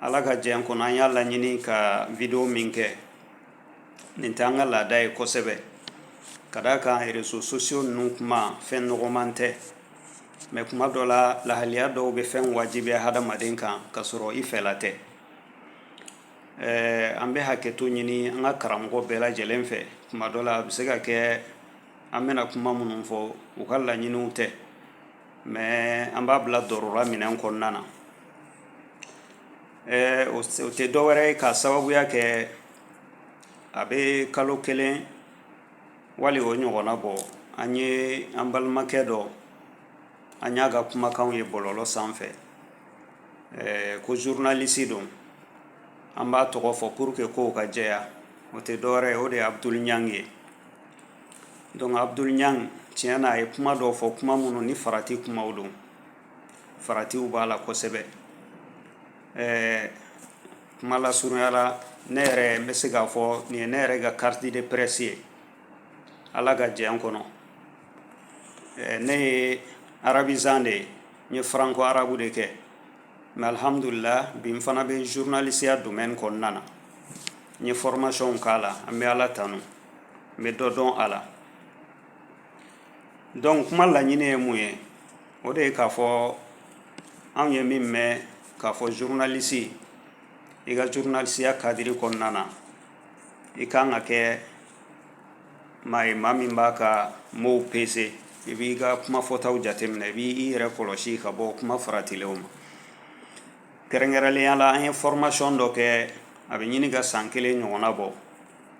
ala ka jɛn kɔnɔ an y'a laɲini ka video min kɛ nin tɛ an ka laada ye kosɛbɛ ka d'a kan réseaux sociaux ninnu kuma fɛn nɔgɔman tɛ mais kuma dɔ la lahaliya dɔw bɛ fɛn wajibiya hadamaden kan ka sɔrɔ i fɛla tɛ ɛɛ an bɛ hakɛto ɲini an ka karamɔgɔ bɛɛ lajɛlen fɛ kuma dɔ la a bɛ se ka kɛ an bɛna kuma minnu fɔ u ka laɲiniw tɛ mais an b'a bila darura minɛn kɔnɔna na ɛɛ o s- o tɛ dɔwɛrɛ ye k'a sababuya kɛ a bɛ kalo kelen wali o ɲɔgɔnna bɔ an ye an balimakɛ dɔ an y'a ka kumakanw ye bɔlɔlɔ sanfɛ ɛɛ ko journaliste don an b'a tɔgɔ fɔ pour que kow ka jɛya o tɛ dɔwɛrɛ ye o de ye abudul ɲangi ye donc abudul ɲang tiɲɛ na a ye kuma dɔw fɔ kuma minnu ni farati kumaw don faratiw b'a la kosɛbɛ ɛɛ kuma lasurunya la ne yɛrɛ n bɛ se k'a fɔ nin ye ne yɛrɛ ka carte de presse ye ala ka jɛn kɔnɔ ɛɛ ne ye arabisant de ye n ye franco arabe de kɛ mais alhamdulillah bi n fana bɛ journalisiya domaine kɔnɔna na n ye formation k'a la an bɛ ala tanu n bɛ dɔ dɔn a la donc kuma laɲini ye mun ye o de ye k'a fɔ anw ye min mɛn k'a fɔ journaliste i ka journalisiya kadiri kɔnɔna na i kan ka kɛ maa ye maa min b'a ka mow pese i b'i ka kuma fɔtaw jateminɛ i b'i yɛrɛ kɔlɔsi ka bɔ kuma faratilenw ma kɛrɛnkɛrɛnnenya la an ye formation dɔ kɛ a bɛ ɲini ka san kelen ɲɔgɔnna bɔ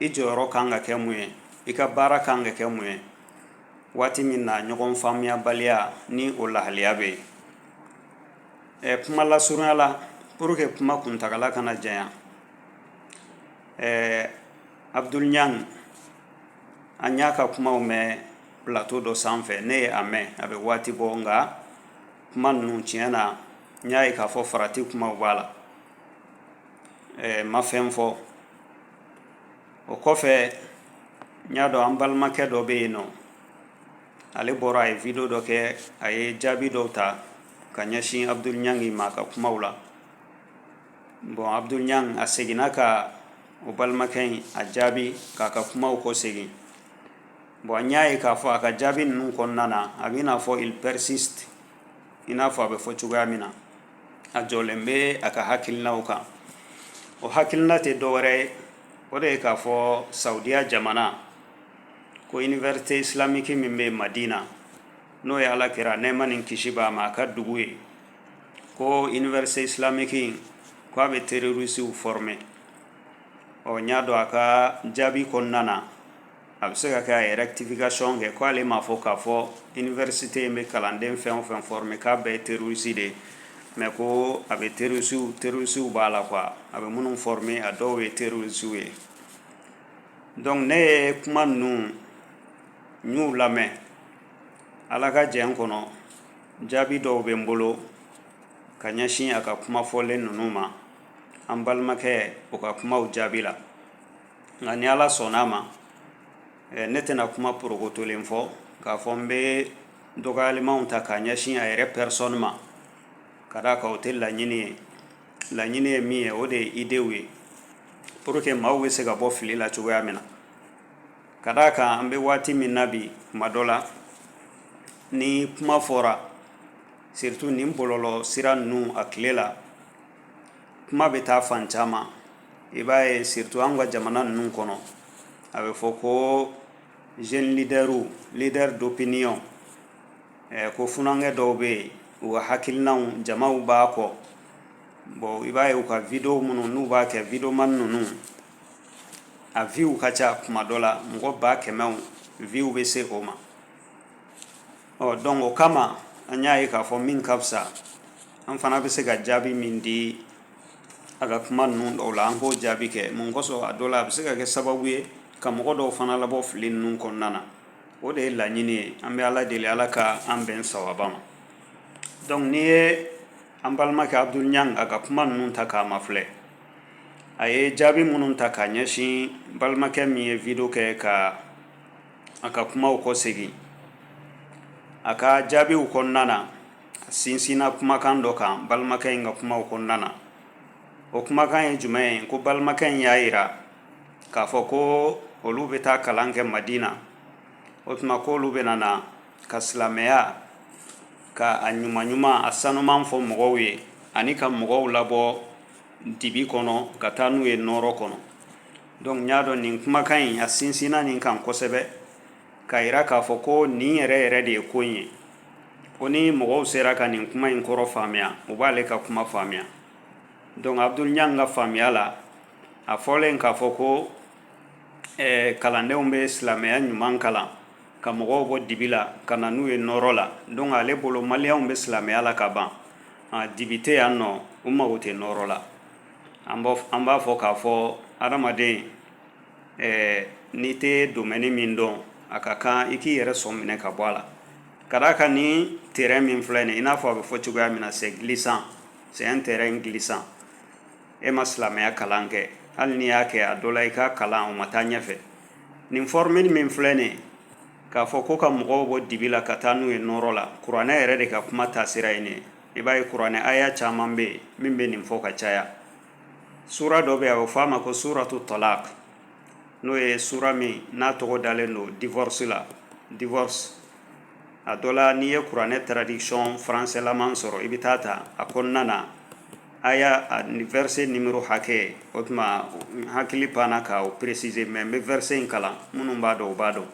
i jɔyɔrɔ ka kan ka kɛ mun ye i ka baara ka kan ka kɛ mun ye waati min na ɲɔgɔn faamuyabaliya ni o lahaliya bɛ yen ɛɛ kuma lasurunya la pour que kuma kuntagala kana janya ɛɛ abudul ɲang an y'a ka kumaw mɛn plateau dɔ sanfɛ ne ye a mɛn a bɛ waati bɔ nka kuma ninnu tiɲɛ na n y'a ye k'a fɔ farati kumaw b'a la ɛɛ n ma fɛn fɔ o kɔfɛ n y'a dɔn an balimakɛ dɔ bɛ yen nɔ ale bɔra a ye video dɔ kɛ a ye jaabi dɔw ta ka ɲɛsin abudul ɲangi ma a ka kumaw la bon abudul ɲangi a seginna ka o balimakɛ in a jaabi k'a ka kumaw kɔ segin bon an y'a ye k'a fɔ a ka jaabi ninnu kɔnɔna na a b'i n'a fɔ il persiste i n'a fɔ a bɛ fɔ cogoya min na a jɔlen bɛ a ka hakilinaw kan o hakilina tɛ dɔwɛrɛ ye o de ye k'a fɔ sawudiya jamana ko université islamique min bɛ madina n'o ye ala kira nɛɛma ni kisi b'a ma a ka dugu ye ko université islamique in ko a bɛ terorisiw fɔrɔme ɔ n y'a dɔn a ka jaabi kɔnɔna na a bɛ se ka kɛ a ye rectification kɛ k'ale m'a fɔ k'a fɔ université in bɛ kalanden fɛn o fɛn fɔrɔme k'a bɛɛ terorisi de ye mais ko a bɛ terorisiw terorisiw b'a la quoi a bɛ minnu fɔrɔme a dɔw ye terorisiw ye donc ne ye kuma ninnu n y'u lamɛn ala ka jɛn kɔnɔ jaabi dɔw bɛ n bolo ka ɲɛsin a ka kumafɔlen ninnu ma an balimakɛ o ka kumaw jaabi la nka ni ala sɔnna a ma eh, ne tɛna kuma porokotolen fɔ k'a fɔ n bɛ dɔgɔyalimanw ta k'a ɲɛsin a yɛrɛ personne ma ka d'a kan o tɛ laɲini ye laɲini ye min ye o de ye idew ye pour que maaw bɛ se ka bɔ fili la cogoya min na ka d'a kan an bɛ waati min na bi kuma dɔ la ni kuma fɔra surtout nin bɔlɔlɔ sira ninnu a tile la kuma bɛ taa fan caman i b'a ye surtout an ka jamana ninnu kɔnɔ a bɛ fɔ ko jeune leaderw leader d'opinion eh, ko funankɛ dɔw bɛ yen u ka hakilinaw jamaw b'a kɔ bon i b'a ye u ka video minnu n'u b'a kɛ videoman ninnu a viw ka ca kuma dɔ la mɔgɔ ba kɛmɛw viw bɛ se o ma ɔ donc o kama an y'a ye k'a fɔ min ka fisa an fana bɛ se ka jaabi min di a ka kuma ninnu dɔw la an k'o jaabi kɛ mun kosɔn a dɔ la a bɛ se ka kɛ sababu ye ka mɔgɔ dɔw fana labɔ fili ninnu kɔnɔna na o de ye laɲini ye an bɛ ala deli ala ka an bɛn sawaba ma donc n'i ye an balimakɛ abudul ɲang a ka kuma ninnu ta k'a mafilɛ a ye jaabi minnu ta k'a ɲɛsin balimakɛ min ye video kɛ ka a ka kumaw kɔsegin a ka jaabiw kɔnɔna na sinsinna kumakan dɔ kan balimakɛ in ka kumaw kɔnɔna na o kumakan ye jumɛn ye ko balimakɛ in y'a yira k'a fɔ ko olu bɛ taa kalan kɛ madina o tuma k'olu bɛna na ka silamɛya ka a ɲuman ɲuman a sanuman fɔ mɔgɔw ye ani ka mɔgɔw labɔ dibi kɔnɔ ka taa n'u ye nɔɔrɔ kɔnɔ donc n y'a dɔn nin kumakan in a sinsinna nin kan kosɛbɛ ka jira k'a fɔ ko nin yɛrɛ yɛrɛ de ye ko in ye ko ni mɔgɔw sera ka nin kuma in kɔrɔ faamuya u b'ale ka kuma faamuya donc abudul ɲang ka faamuya la a fɔlen k'a fɔ ko eh, kalandenw bɛ silamɛya ɲuman kalan ka mɔgɔw bɔ dibi la ka na n'u ye nɔɔrɔ la donc ale bolo maliyɛnw bɛ silamɛya la ka ban ah, dibi tɛ yan nɔ u mago tɛ nɔɔrɔ la an b'a fɔ k'a fɔ adamaden ɛɛ n'i tɛ domaine min dɔn a ka kan i k'i yɛrɛ sɔn minɛ ka bɔ a la ka d'a kan ni terrain min filɛ nin ye i n'a fɔ a bɛ fɔ cogoya min na c'est glissant c'est un terrain glissant e ma silamɛya kalan kɛ hali n'i y'a kɛ a dɔ la i ka kalan o ma taa ɲɛfɛ nin formule min filɛ nin ye k'a fɔ ko ka mɔgɔw bɔ dibi la ka taa n'u ye nɔɔrɔ la kuranɛ yɛrɛ de ka kuma taasira ye nin ye i b'a ye kuranɛ aya caman bɛ yen min bɛ nin fɔ ka caya suura dɔ bɛ yen a bɛ fɔ a ma ko suuratu talaq n'o ye suura min n'a tɔgɔ dalen don divorce la divorce a dɔ la n'i ye kuranɛ traduction français laman sɔrɔ i bɛ taa ta a kɔnɔna na aya a ni verset numéro hakɛ o tuma n hakili panna ka o préciser mais n bɛ verset in kalan minnu b'a dɔn u b'a dɔn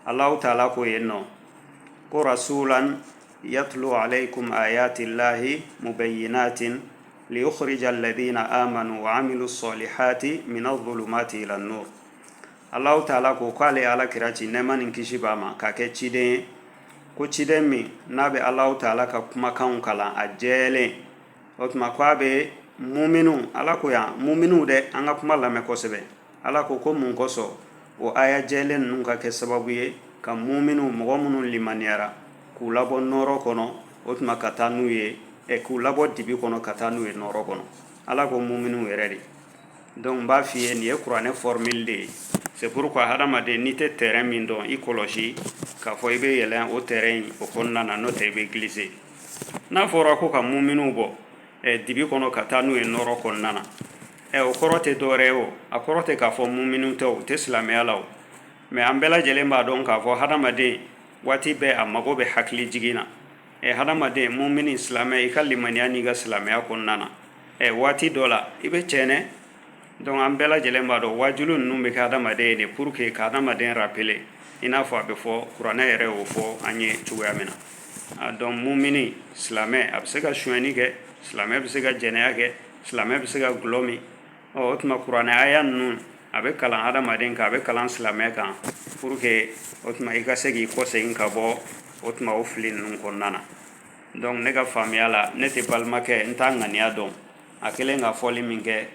Allahu taala ko yen nɔ ko rasulan yatlu alaykum ayatillahi mubayyinatin liyukhrija alladhina amanu wa amilu salihati mina zulumati ila nur Allahu taala ko k'ale ala kira ci nɛɛma ni kisi b'a ma k'a kɛ ciden ye ko ciden min n'a bɛ Allahu taala ka kumakanw kalan a jɛlen o tuma ko a bɛ muminu ala ko yan muminu dɛ an ka kuma lamɛn kosɛbɛ ala ko ko mun kosɔn o aya jɛlen ninnu ka kɛ sababu ye ka muminiw mɔgɔ minnu limaniyara k'u labɔ nɔɔrɔ kɔnɔ o tuma ka taa n'u ye ɛ k'u labɔ dibi kɔnɔ ka taa n'u ye nɔɔrɔ kɔnɔ ala ko muminiw yɛrɛ de donc n b'a f'i ye nin ye kuranɛ formule de ye c'est pourquoi hadamaden n'i tɛ terrain min dɔn i kɔlɔsi k'a fɔ i bɛ yɛlɛn o terrain in o kɔnɔna na n'o tɛ i bɛ glisser n'a fɔra ko ka muminiw bɔ ɛ dibi kɔnɔ ka taa n'u ye nɔɔrɔ kɔnɔna na ɛ o kɔrɔ tɛ dɔwɛrɛ ye o a kɔrɔ tɛ k'a fɔ muminu tɛ u tɛ silamɛya la o mais an bɛɛ lajɛlen b'a dɔn k'a fɔ hadamaden waati bɛɛ a mago bɛ hakili jigin na ɛ hadamaden mumini silamɛ i ka limaniya n'i ka silamɛya kɔnɔna na ɛ waati dɔ la i bɛ cɛnɛ donc an bɛɛ lajɛlen b'a dɔn waajulu ninnu bɛ kɛ hadamaden ye de pour que ka hadamaden rappeler i n'a fɔ a bɛ fɔ kuranɛ yɛrɛ y'o fɔ an ye cogoya min na a donc mumini silamɛ a bɛ se ka sonyɛni kɛ silamɛ bɛ se ka jɛnɛya kɛ silamɛ bɛ se ka gulɔ min ɔ o tuma kuranɛ aya ninnu a bɛ kalan hadamaden kan a bɛ kalan silamɛ kan pour que o tuma i ka se k'i kɔ segin ka bɔ o tuma o fili ninnu kɔnɔna na donc ne ka faamuya la ne tɛ balimakɛ n t'a ŋaniya dɔn a kɛlen ka fɔli min kɛ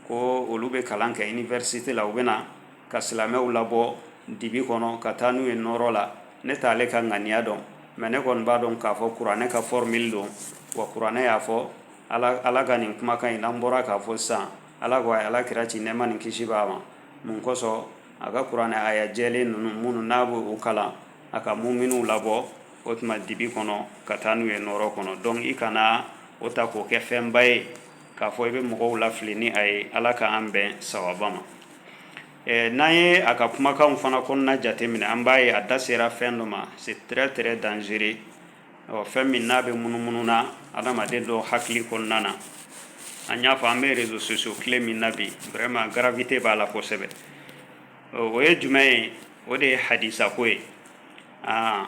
ko olu bɛ kalan kɛ université la u bɛ na ka silamɛw labɔ dibi kɔnɔ ka taa n'u ye nɔɔrɔ la ne t'ale ka ŋaniya dɔn mais ne kɔni b'a dɔn k'a fɔ kuranɛ ka formule don wa kuranɛ y'a fɔ ala ka nin kumakan in n'an bɔra k'a fɔ sisan ala ko a ye ala kira ci nɛɛma ni kisi b'a ma mun kosɔn a ka kuranɛ aya jɛlen ninnu minnu n'a bɛ u kalan a ka muminiw labɔ o tuma dibi kɔnɔ ka taa n'u ye nɔɔrɔ kɔnɔ donc i kana o ta k'o kɛ fɛnba ye k'a fɔ i bɛ mɔgɔw lafili ni a ye ala k'an bɛn sawaba ma n'an ye a ka kumakanw fana kɔnɔna jateminɛ an b'a ye a da sera fɛn dɔ ma c'est très très dangereux ɔ fɛn min n'a bɛ munumunu na adamaden dɔ hakili kɔnɔna na an y'a fɔ an bɛ réseaux sociaux tile min na bi vraiment gravité b'a la kosɛbɛ o ye jumɛn ye o de ye hadisa ko ye aa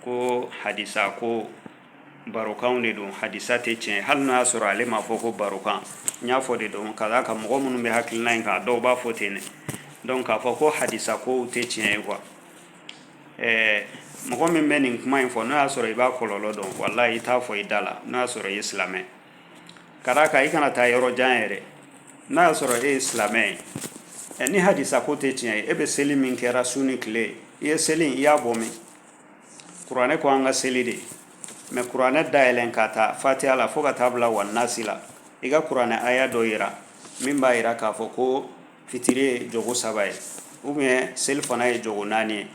ko hadisa ko barokanw de don hadisa tɛ tiɲɛ hali n'a y'a sɔrɔ ale m'a fɔ ko barokan n y'a fɔ de don ka d'a kan mɔgɔ minnu bɛ hakilina in kan dɔw b'a fɔ ten dɛ donc k'a fɔ ko hadisa kow tɛ tiɲɛ ye quoi ɛɛ mɔgɔ min bɛ nin kuma in fɔ n'o y'a sɔrɔ i b'a kɔlɔlɔ dɔn walahi i t'a fɔ i da la n'o y'a sɔrɔ i ye silamɛ ka d'a kan i kana taa yɔrɔ jan yɛrɛ n'a y'a sɔrɔ e ye silamɛ ye ɛ ni hadisa ko tɛ tiɲɛ ye e bɛ seli min kɛra su ni tile i ye seli in i y'a bɔ min kuranɛ ko an ka seli de mais kuranɛ dayɛlɛn ka taa fatiha la fo ka taa bila wannasi la i ka kuranɛ aya dɔ yira min b'a yira k'a fɔ ko fitiri ye jogo saba ye ou bien selifana ye jogo naani ye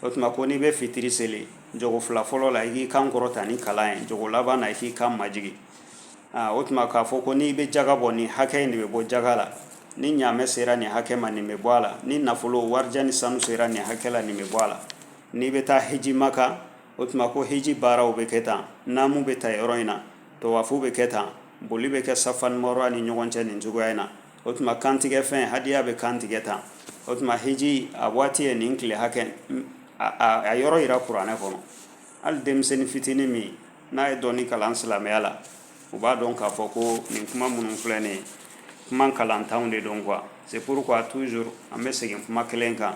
o tuma ko n'i bɛ fitiri seli jogo fila fɔlɔ la i k'i kan kɔrɔta ni kalan ye jogo laban na i k'i kan majigin aa o tuma k'a fɔ ko n'i bɛ jaga bɔ nin hakɛ in de bɛ bɔ jaga la ni ɲaamɛ sera nin hakɛ ma nin bɛ bɔ a la ni nafolo warijɛ ni sanu sera nin hakɛ la nin bɛ bɔ a la n'i bɛ taa hiji maka o tuma ko hiji baaraw bɛ kɛ tan naamu bɛ ta yɔrɔ in na tawafu bɛ kɛ tan boli bɛ kɛ safa ni marwa ni ɲɔgɔn cɛ nin cogoya in na o tuma kantigɛ fɛn hadiya bɛ kantigɛ tan o tuma hiji a waati ye nin tile hakɛ a yɔrɔ yira kuranɛ kɔnɔ hali denmisɛnnin fitinin min n'a ye dɔɔni kalan silamɛya la u b'a dɔn k'a fɔ ko nin kuma minnu filɛ nin ye kuma kalantanw de don quoi c'est pourquoi toujours an bɛ segin kuma kelen kan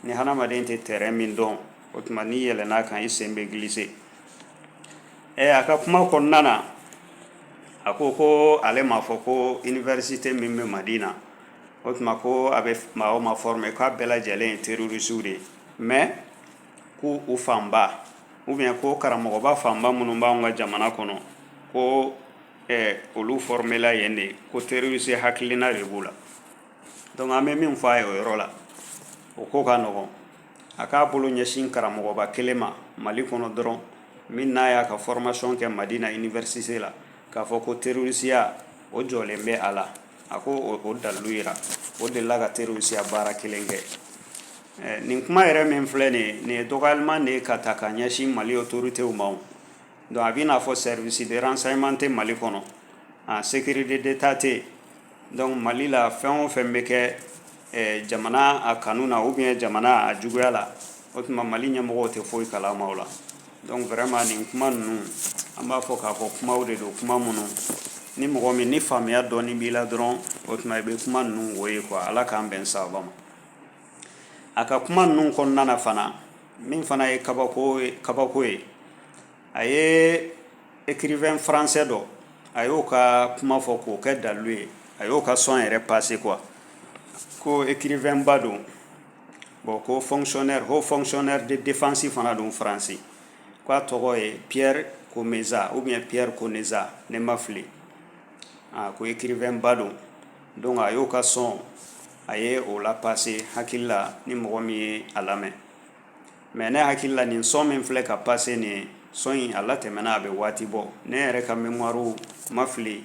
ni hadamaden tɛ terrain min dɔn o tuma n'i yɛlɛnn'a kan i sen bɛ glisser Ɛ a ka kuma kɔnɔna na a ko ko ale m'a fɔ ko université min bɛ Madina o tuma ko a bɛ maa o maa former k'a bɛɛ lajɛlen ye terroristes de ye mais ko u fanba ou bien ko karamɔgɔba fanba minnu bɛ an ka jamana kɔnɔ ko olu formela yen de ko terroriste hakilina de b'u la donc an bɛ min fɔ a ye o yɔrɔ la o ko ka nɔgɔn a k'a bolo ɲɛsin karamɔgɔba kelen ma mali kɔnɔ dɔrɔn min n'a y'a ka formation kɛ Madina université la k'a fɔ ko terorisiya o jɔlen bɛ a la a ko o dalilu jira o delila ka terorisiya baara kelen kɛ eh, nin kuma yɛrɛ min filɛ nin ye nin ye dɔgɔyalima de ye ka taa ka ɲɛsin mali autoritéw ma o donc a bɛ n'a fɔ service de renseignement tɛ mali kɔnɔ a sécurité d'état tɛ yen donc mali la fɛn o fɛn bɛ kɛ jamana a kanu na ou bien jamana a juguya la o tuma mali ɲɛmɔgɔw tɛ foyi kalama o la donc vraiment nin kuma ninnu an b'a fɔ k'a fɔ kumaw de don kuma minnu ni mɔgɔ min ni faamuya dɔɔni b'i la dɔrɔn o tuma i bɛ kuma ninnu wo ye quoi ala k'an bɛn sababa ma a ka kuma ninnu kɔnɔna na fan min fana ye kabako ye a ye écrivain français dɔ a y'o ka kuma fɔ k'o kɛ dalilu ye a y'o ka son yɛrɛ passer quoi ko écrivainba don bon ko fonctionnaire haut fonctionnaire de défense fana don faransi ko a tɔgɔ ye Pierre Comesa ou bien Pierre Conesa ne ma fili a ko écrivainba don donc a y'o ka son a ye o la passer hakili la ni mɔgɔ min ye a lamɛn mais ne hakili la nin son min filɛ ka passer nin ye son in a latɛmɛna a bɛ waati bɔ ne yɛrɛ ka mémoire ma fili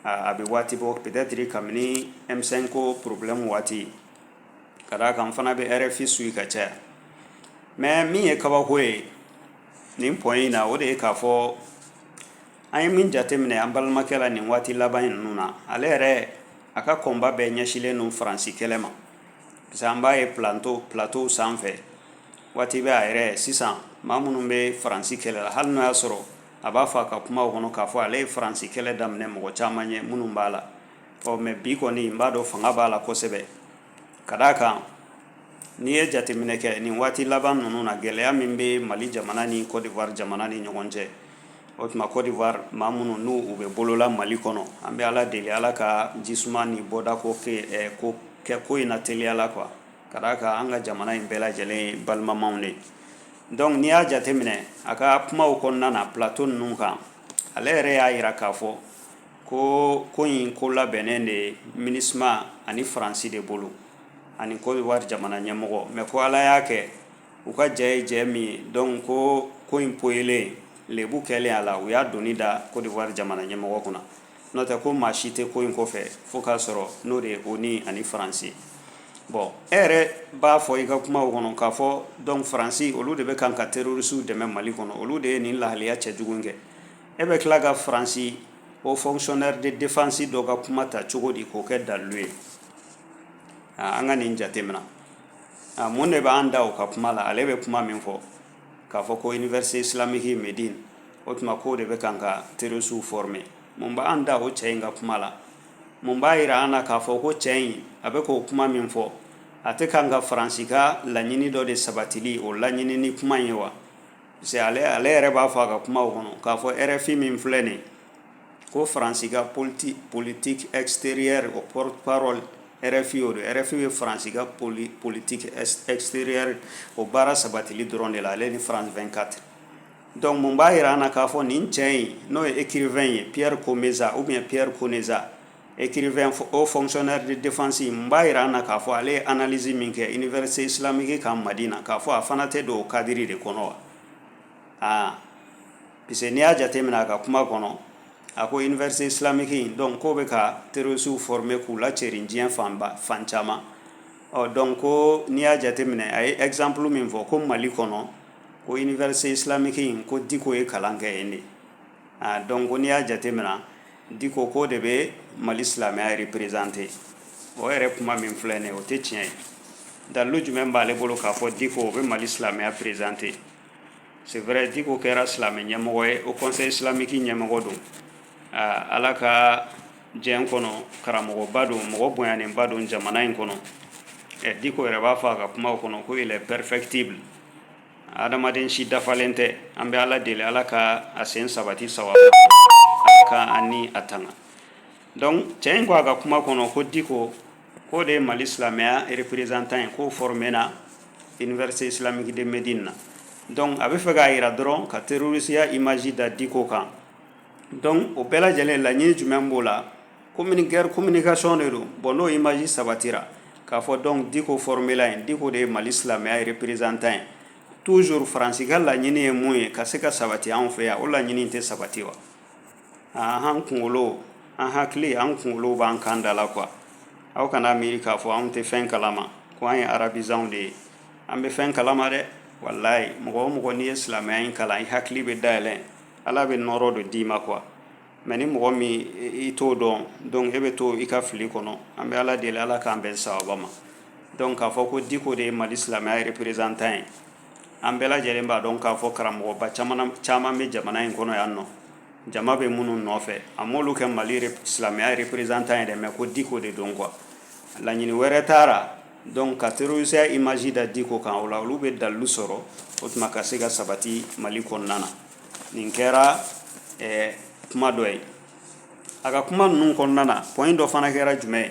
a a bɛ waati bɔ peut-être kabini M5 ko problème waati ka d'a kan n fana bɛ RFI suit ka caya mais min ye kabako ye nin point in na o de ye k'a fɔ an ye min jateminɛ an balimakɛ la nin waati laban in ninnu na ale yɛrɛ a ka combat bɛɛ ɲɛsilen don faransi kɛlɛ ma an b'a ye pla plateauw sanfɛ waati bɛɛ a yɛrɛ sisan maa minnu bɛ faransi kɛlɛ la hali n'o y'a sɔrɔ a b'a fɔ a ka kumaw kɔnɔ k'a fɔ ale ye faransi kɛlɛ daminɛ mɔgɔ caman ɲɛ minnu b'a la ɔ mais bi kɔni n b'a dɔn fanga b'a la kosɛbɛ ka d'a kan n'i ye jateminɛ kɛ nin waati laban ninnu na gɛlɛya min bɛ mali jamana ni Côte d'Ivoire jamana ni ɲɔgɔn cɛ o tuma Côte d'Ivoire maa minnu n'u u bɛ bolola Mali kɔnɔ an bɛ Ala deli Ala ka jisuma ni bɔda ko kɛ ko in na teliya la quoi ka d'a kan an ka jamana in bɛɛ lajɛlen ye balimamaw de ye donc n'i y'a jateminɛ a ka kumaw kɔnɔna na plateau ninnu kan ale yɛrɛ y'a jira k'a fɔ ko ko in ko labɛnnen de ye MINUSMA ani Faransi de bolo ani Côte d'Ivoire jamana ɲɛmɔgɔ mais ko Ala y'a kɛ u ka jɛ ye jɛ min ye donc ko in poyilen lebu kɛlen a la u y'a doni da Côte d'Ivoire jamana ɲɛmɔgɔ kunna n'o tɛ ko maa si tɛ ko in kɔfɛ fo k'a sɔrɔ n'o de ye ONU ani faransi bon e yɛrɛ b'a fɔ i ka kumaw kɔnɔ k'a fɔ donc faransi olu de bɛ kan ka terroristes dɛmɛ mali kɔnɔ olu de ye nin lahalaya cɛjugu kɛ e bɛ tila ka faransi haut fonctionnaire de défense dɔ ka kuma ta cogo di k'o kɛ dalilu ye an ka nin jatemina a mun de b'an da o ka kuma la ale bɛ kuma min fɔ k'a fɔ ko université islamique de Médine o tuma k'o de bɛ kan ka terroristes former mun b'an da o cɛ in ka kuma la mun b'a jira an na k'a fɔ ko cɛ in a bɛ k'o kuma min fɔ a tɛ kan ka faransi ka laɲini dɔ de sabatili o laɲini ni kuma in ye wa parce que ale ale yɛrɛ b'a fɔ a ka kumaw kɔnɔ k'a fɔ RFI min filɛ nin ye ko faransi ka politi politique extérieure o porte-parole RFI o don RFI bɛ faransi ka poli politique extérieure o baara sabatili dɔrɔn de la ale ni France 24 donc mun b'a jira an na k'a fɔ nin cɛ in n'o ye écrivain ye Pierre Comesa ou bien Pierre Conesa écrivain haut fonctionnaire de défense mun b'a jira an na k'a fɔ ale ye analyse min kɛ université islamique kan Madina k'a fɔ a fana tɛ don o kadiri de kɔnɔ wa aa parce que n'i y'a jate minɛ a ka kuma kɔnɔ a ko université islamique in donc k'o bɛ ka terroristes former k'u lacɛrin diɲɛ fanba fan caman ɔ donc ko n'i y'a jate minɛ a ye exemple min fɔ ko mali kɔnɔ ko université islamique in ko diko ye kalan kɛ yen de ah, donc ko n'i y'a jate minɛ diko k'o de bɛ mali silamɛya représenter o yɛrɛ kuma min filɛ nin ye o tɛ tiɲɛ ye dalilu jumɛn b'ale bolo k'a fɔ diko o bɛ mali silamɛya présenter c'est vrai diko kɛra silamɛ ɲɛmɔgɔ ye haut conseil islamique ɲɛmɔgɔ don ala ka diɲɛ kɔnɔ karamɔgɔba don mɔgɔ bonyanenba don jamana in kɔnɔ ɛ diko yɛrɛ b'a fɔ a ka kuma kɔnɔ ko il est perfectible adamaden si dafalen tɛ an bɛ ala deli ala ka a sen sabati sawaba ka an ni a tanga donc cɛ in ko a ka kuma kɔnɔ ko diko k'o de ye mali silamɛya représentant ye k'o formena Université islamique de Médine na donc a bɛ fɛ k'a jira dɔrɔn ka terrorisiya image da diko kan donc o bɛɛ lajɛlen laɲini jumɛn b'o la communi- guerre communication de don bon n'o image sabatira k'a fɔ donc diko formela yen diko de ye mali silamɛya ye représentant ye toujours faransi ka laɲini ye mun ye ka se ka sabati anw fɛ yan o laɲini in tɛ sabati wa an kunkolo an hakili an kunkolo b'an kan da la quoi aw kan'a miiri k'a fɔ an tɛ fɛn kalama ko an ye arabisants de ye an bɛ fɛn kalama dɛ walayi mɔgɔ o mɔgɔ n'i ye silamɛya in kalan i hakili bɛ dayɛlɛn ala bɛ nɔɔrɔ dɔ d'i ma quoi mais ni mɔgɔ min i t'o dɔn donc e bɛ to i ka fili kɔnɔ an bɛ ala deli ala k'an bɛn sawaba ma donc k'a fɔ ko diko de ye mali silamɛya représentant ye an bɛɛ lajɛlen b'a dɔn k'a fɔ karamɔgɔba caman bɛ jamana in kɔnɔ yan nɔ jama bɛ minnu nɔfɛ a m'olu kɛ mali silamɛya représentant ye dɛ mais ko diko de don quoi laɲini wɛrɛ t'a la donc ka terrorisiya image da diko kan o la olu bɛ dalilu sɔrɔ o tuma ka se ka sabati mali kɔnɔna na nin kɛra kuma dɔ ye a ka kuma ninnu kɔnɔna na point dɔ fana kɛra jumɛn ye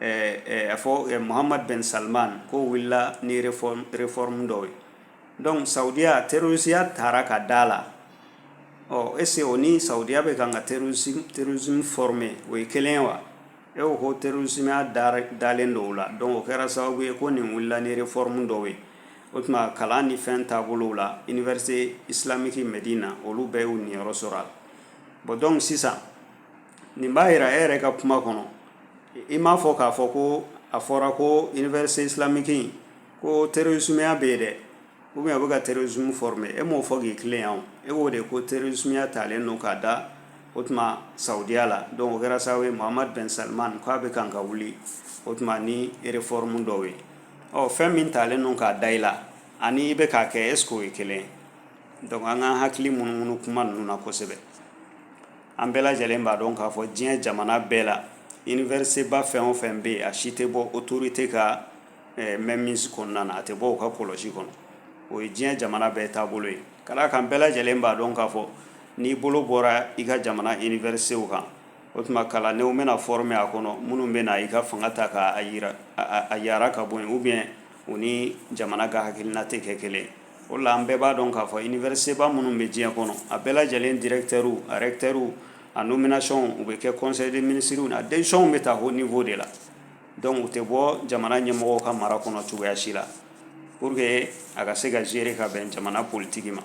ɛɛ a fɔ eh, Muhammad bin Salman ko wulila ni réforme dɔw ye donc Saudiya terrorisiya taara ka d'a la est-ce que o ni Saudiya bɛ kan ka terrorisme former o ye kelen ye wa e ko ko terrorismeya dalen don o la donc o kɛra sababu ye ko nin wulila ni réforme dɔw ye o tuma kalan ni fɛn taabolow la université islamique Medina olu bɛɛ y'u niyɔrɔ sɔrɔ a la bon donc sisan nin b'a yira e yɛrɛ ka kuma kɔnɔ i m'a fɔ k'a fɔ ko a fɔra ko université islamique ko terrorismeya bɛ yen dɛ ou bien a bɛ kan ka terrorisme former e m'o fɔ k'i tilen yan e ko de ko terrorismeya talen don k'a da o tuma Saudiya la donc o kɛra sababu ye Muhammad bin Salman k'a bɛ kan ka wuli o tuma ni réforme dɔw ye ɔ fɛn min talen don k'a da i la ani i bɛ k'a kɛ est-ce que o ye kelen ye donc an k'an hakili munumunu kuma ninnu na kosɛbɛ An bɛɛ lajɛlen b'a dɔn k'a fɔ diɲɛ jamana bɛɛ la université ba fɛn o fɛn bɛ yen a si tɛ bɔ autorité ka mainmise kɔnɔna na a tɛ bɔ u ka kɔlɔsi kɔnɔ o ye diɲɛ jamana bɛɛ taabolo ye ka d'a kan an bɛɛ lajɛlen b'a dɔn k'a fɔ n'i bolo bɔra i ka jamana universitéw kan o tuma kalandenw bɛna former a kɔnɔ minnu bɛna i ka fanga ta k'a yara ka bɔ yen ou bien u ni jamana ka hakilina tɛ kɛ kelen o la an bɛɛ b'a dɔn k'a fɔ université ba minnu bɛ diɲɛ kɔnɔ a bɛɛ lajɛlen directeurw a recteurw a nomination u bɛ kɛ conseil des ministres na décisionw bɛ ta haut niveau de la donc u tɛ bɔ jamana ɲɛmɔgɔ ka mara kɔnɔ cogoya si la pour que a ka se ka gérer ka bɛn jamana politique ma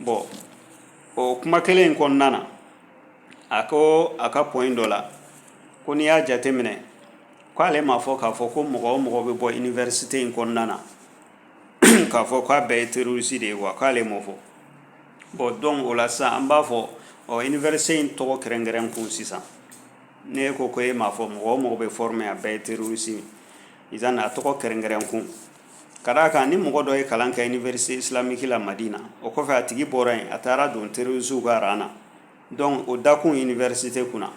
bon o kuma kelen in kɔnɔna na a ko a ka point dɔ la ko n'i y'a jateminɛ k'ale m'a fɔ k'a fɔ ko mɔgɔ o mɔgɔ bɛ bɔ université in kɔnɔna na k'a fɔ k'a bɛɛ ye terroriste de ye wa k'ale m'o fɔ bon donc o la sisan an b'a fɔ ɔ université in tɔgɔ kɛrɛnkɛrɛn kun sisan ne ko ko e m'a fɔ mɔgɔ o mɔgɔ bɛ former a bɛɛ ye terroriste ye izan a tɔgɔ kɛrɛnkɛrɛn kun ka d'a kan ni mɔgɔ dɔ ye kalan kɛ université islamique la Madina o kɔfɛ a tigi bɔra yen a taara don terroristew ka rang na dɔnku o dakun université kunna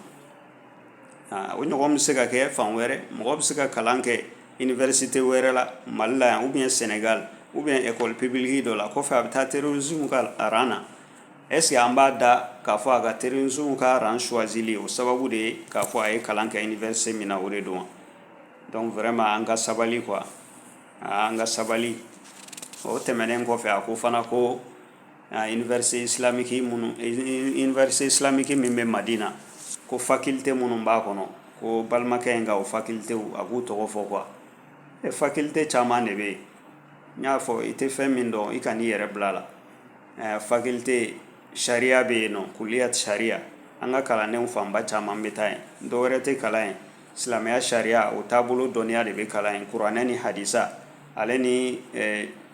o ɲɔgɔn bɛ se ka kɛ fan wɛrɛ mɔgɔ bɛ se ka kalan kɛ université wɛrɛ la mali la yan ou bien Sénégal ou bien école publique dɔ la kɔfɛ a bɛ taa terrorisme ka aran na est-ce que an b'a da k'a fɔ a ka terrorisme ka aran choisili o sababu de ye k'a fɔ a ye kalan kɛ université min na o de don dɔnku vraiment an ka sabali quoi an ka sabali o tɛmɛnen kɔfɛ a ko fana ko Université islamique minnu université islamique min bɛ madina ko faculté minnu b'a kɔnɔ ko balimakɛ in ka o faculté a k'u tɔgɔ fɔ quoi e faculté caman de bɛ yen n y'a fɔ i tɛ fɛn min dɔn i kan'i yɛrɛ bila la ɛ faculté sariya bɛ yen nɔ kuliyatu sariya an ka kalandenw fanba caman bɛ taa yen dɔ wɛrɛ tɛ kalan yen silamɛya sariya o taabolo dɔnniya de bɛ kalan yen kuranɛ ni hadisa ale ni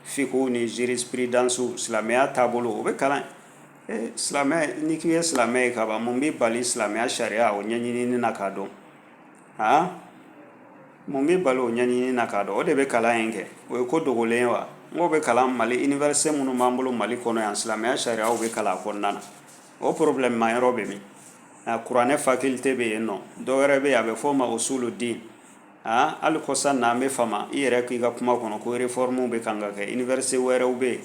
fiqhu ni jurisprudence silamɛya taabolo o bɛ kalan silamɛ ni k'i ye silamɛ ye ka ban mun b'i bali silamɛya sariya o ɲɛɲini na k'a dɔn aa mun b'i bali o ɲɛɲini na k'a dɔn o de bɛ kalan yen kɛ o ye ko dogolen ye wa n k'o bɛ kalan mali université minnu b'an bolo mali kɔnɔ yan silamɛya sariya bɛ kalan kɔnɔna na o problème ma yɔrɔ bɛ min a kuranɛ faculté bɛ yen nɔ dɔ wɛrɛ bɛ yen a bɛ fɔ o ma ko usuluddin aa hali kɔsa na an b'a f'a ma i yɛrɛ k'i ka kuma kɔnɔ ko réforme bɛ kan ka kɛ université wɛrɛw bɛ yen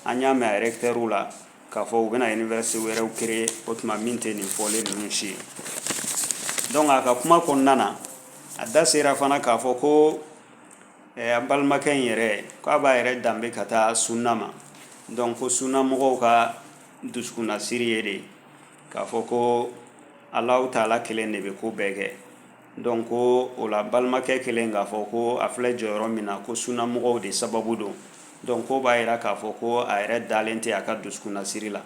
an y'a mɛn a rɛkitɛriw la k'a fɔ u bɛna université wɛrɛw créer o tuma min tɛ nin fɔlen ninnu si ye donc a ka kuma kɔnɔna na a da sera fana k'a fɔ ko eh, an balimakɛ in yɛrɛ k'a b'a yɛrɛ danbe ka taa sunna ma donc ko sunna mɔgɔw ka dusukunnasiri ye de k'a fɔ ko alahu taala kelen de bɛ ko bɛɛ kɛ donc ko o la balimakɛ kɛlen k'a fɔ ko a filɛ jɔyɔrɔ min na ko sunna mɔgɔw de sababu don donc k'o b'a yira k'a fɔ ko a yɛrɛ dalen tɛ a ka dusukunnasiri la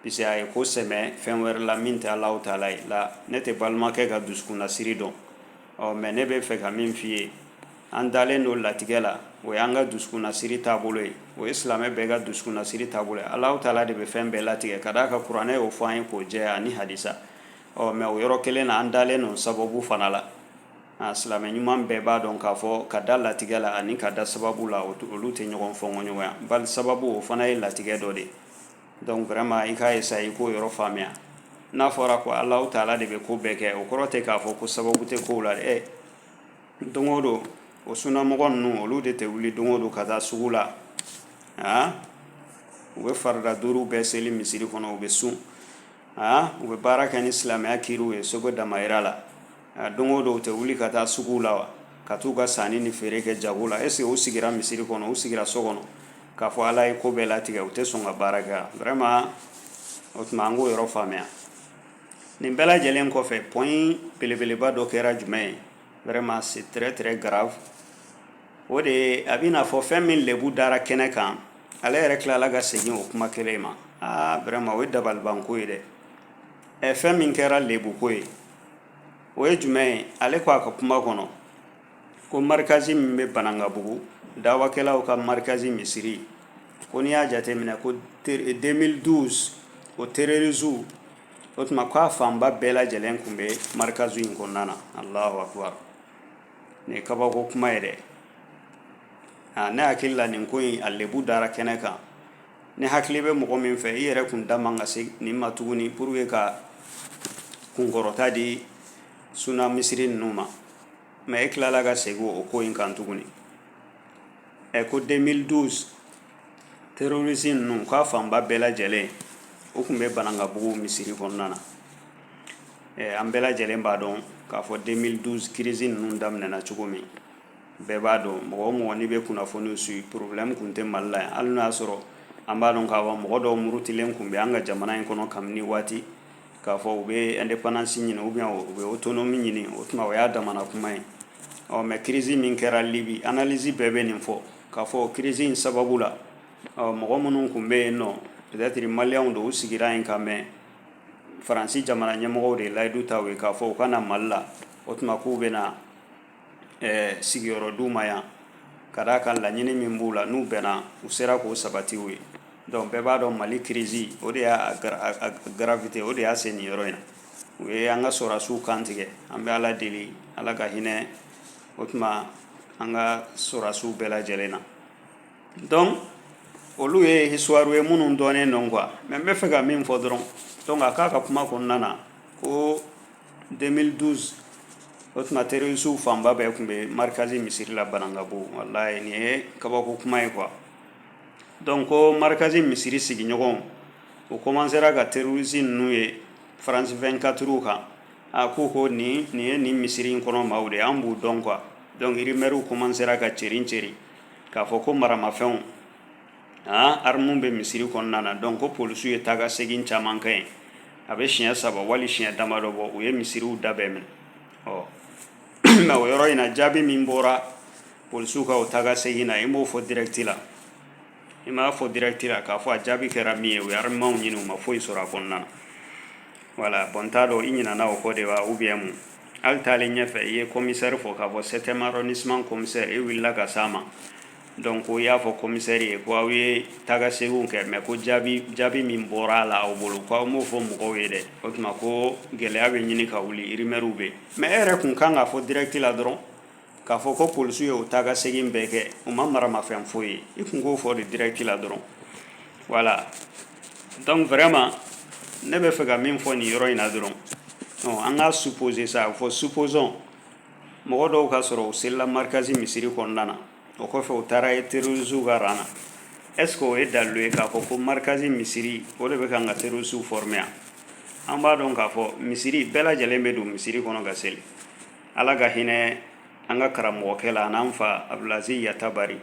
puisque a ye ko sɛmɛ fɛn wɛrɛ la min tɛ alahu taala ye la ne tɛ balimakɛ ka dusukunnasiri dɔn ɔ mais ne bɛ fɛ ka min f'i ye an dalen don latigɛ la o y'an ka dusukunnasiri taabolo ye o ye silamɛ bɛɛ ka dusukunnasiri taabolo ye ala taala de bɛ fɛn bɛɛ latigɛ ka d'a kan kuranɛ y'o fɔ an ye k'o jɛ ani hadisa ɔ mais o yɔrɔ kelen na an dalen don sababu fana la silamɛ ɲuman bɛɛ b'a dɔn k'a fɔ ka da latigɛ la ani ka da sababu la olu tɛ ɲɔgɔn fɔɲɔgɔnya bari sababu o fana ye latigɛ dɔ de ye dɔnku vraiment i k'a essayer i k'o yɔrɔ faamuya n'a fɔra ko ala taala de bɛ ko bɛɛ kɛ o kɔrɔ tɛ k'a fɔ ko sababu tɛ ko la dɛ don o don o sunnamɔgɔ ninnu olu de tɛ wuli don o don ka taa sugu la aa u bɛ farida duuru bɛɛ seli misiri kɔnɔ u bɛ sun aa u bɛ baara kɛ ni silamɛya kiiriw ye seko damayira la a don o don u tɛ wuli ka taa suguw la wa ka t'u ka sanni ni feere kɛ jago la est ce que u sigira misiri kɔnɔ u sigira so kɔnɔ k'a fɔ ala ye ko bɛɛ latigɛ u tɛ sɔn ka baara kɛ wa vraiment o tuma an k'o yɔrɔ faamuya nin bɛɛ lajɛlen kɔfɛ point belebeleba dɔ kɛra jumɛn ye vraiment c'est très très grave o de ye a bɛ n'a fɔ fɛn min lebu dara kɛnɛ kan ale yɛrɛ tilala ka segin o kuma kelen ma aa vraiment o ye dabalibanko ye dɛ ɛ fɛn min kɛra lebu ko ye o ye jumɛn ye ale ko a ka kuma kɔnɔ ko markazi min bɛ banankabugu dawakɛlaw ka markazi misiri ko n'i y'a jateminɛ ko 2012 o terorisiw o tuma k'a fanba bɛɛ lajɛlen tun bɛ markazi in kɔnɔna na alahu akubaru nin ye kabako kuma ye dɛ aa ne hakili la nin ko in a lebu dara kɛnɛ kan ne hakili bɛ mɔgɔ min fɛ i yɛrɛ tun da man ka se nin ma tuguni pour que ka kunkɔrɔta di sunna misiri ninnu ma mais e tilala ka segin o ko in kan tuguni ɛ ko 2012 terorisi ninnu k'a fanba bɛɛ lajɛlen o tun bɛ banankabugu misiri kɔnɔna na ɛ an bɛɛ lajɛlen b'a dɔn k'a fɔ 2012 kirisi ninnu daminɛna cogo min bɛɛ b'a dɔn mɔgɔ o mɔgɔ n'i bɛ kunnafoniw suit problème tun tɛ mali la yan hali n'o y'a sɔrɔ an b'a dɔn k'a fɔ mɔgɔ dɔw murutilen tun bɛ an ka jamana in kɔnɔ kabini waati k'a fɔ u bɛ indépendance ɲini ou bien u bɛ autonomie ɲini o tuma o y'a damana kuma ye ɔ mais kirisi min kɛra libi analyse bɛɛ bɛ nin fɔ k'a fɔ kirisi in sababu la ɔ mɔgɔ minnu tun bɛ yen nɔ peut-être maliyɛnw don u sigira yen ka mɛn faransi jamana ɲɛmɔgɔw de layidu ta u ye k'a fɔ u ka na mali la o tuma k'u bɛ na ɛɛ sigiyɔrɔ d'u ma yan ka d'a kan laɲini min b'u la n'u bɛnna u sera k'o sabati u ye donc bɛɛ b'a dɔn mali crise o de y'a a gravité o de y'a se nin yɔrɔ in na u ye an ka sɔrasiw kantigɛ an bɛ ala deli ala ka hinɛ o tuma an ka sɔrasiw bɛɛ lajɛlen na donc olu ye histoire ye minnu dɔnnen don quoi mais n bɛ fɛ ka min fɔ dɔrɔn donc a k'a ka kuma kɔnɔna na ko 2012 o tuma terrorisiw fanba bɛɛ tun bɛ marikazi misiri la banankabugu walayi nin ye kabako kuma ye quoi donc ko marikazi misiri sigiɲɔgɔnw u kɔmansera ka terrorisi ninnu ye faransi 24 kan a k'u ko nin nin ye nin misiri in kɔnɔ maaw de ye an b'u dɔn quoi donc rumɛriw kɔmansera ka cɛri cɛri k'a fɔ ko maramafɛnw armes bɛ misiri kɔnɔna na donc ko polisiw ye taa ka segin caman kɛ yen a bɛ siɲɛ saba wali siɲɛ damadɔ bɔ u ye misiriw da bɛɛ minɛ ɔ nka o yɔrɔ in na jaabi min bɔra polisiw ka o taa ka segin na i m'o fɔ direct la i m'a fɔ direct la k'a fɔ a jaabi kɛra min ye u ye armements ɲini u ma foyi sɔrɔ a kɔnɔna na voilà bon n t'a dɔn i ɲinana o kɔ de wa ou bien mun hali taalen ɲɛfɛ i ye commissaire fɔ k'a fɔ septième arrondissement commissaire e wulila ka s'a ma Donc ko i y'a fɔ commissaire ye ko aw ye taga seginw kɛ mais ko jaabi jaabi min bɔra a la aw bolo k'aw m'o fɔ mɔgɔw ye dɛ o tuma ko gɛlɛya bɛ ɲini ka wuli rumeurw bɛ mais e yɛrɛ tun kan k'a fɔ direct la dɔrɔn k'a fɔ ko polisiw ye o taa ka segin bɛɛ kɛ u ma maramafɛn foyi ye i tun k'o fɔ de direct la dɔrɔn voilà donc vraiment ne bɛ fɛ ka min fɔ nin yɔrɔ in na dɔrɔn an ka supposer sa a fɔ supposons mɔgɔ dɔw ka sɔrɔ u selila markazi misiri kɔnɔna na o kɔfɛ u taara ye terroristew ka rang na est ce que o ye dalilu ye k'a fɔ ko markazi misiri o de bɛ kan ka terroristew former yan an b'a dɔn k'a fɔ misiri bɛɛ lajɛlen bɛ don misiri kɔnɔ ka seli ala ka hinɛ an ka karamɔgɔkɛ la an'an fa abdulaziz yatabari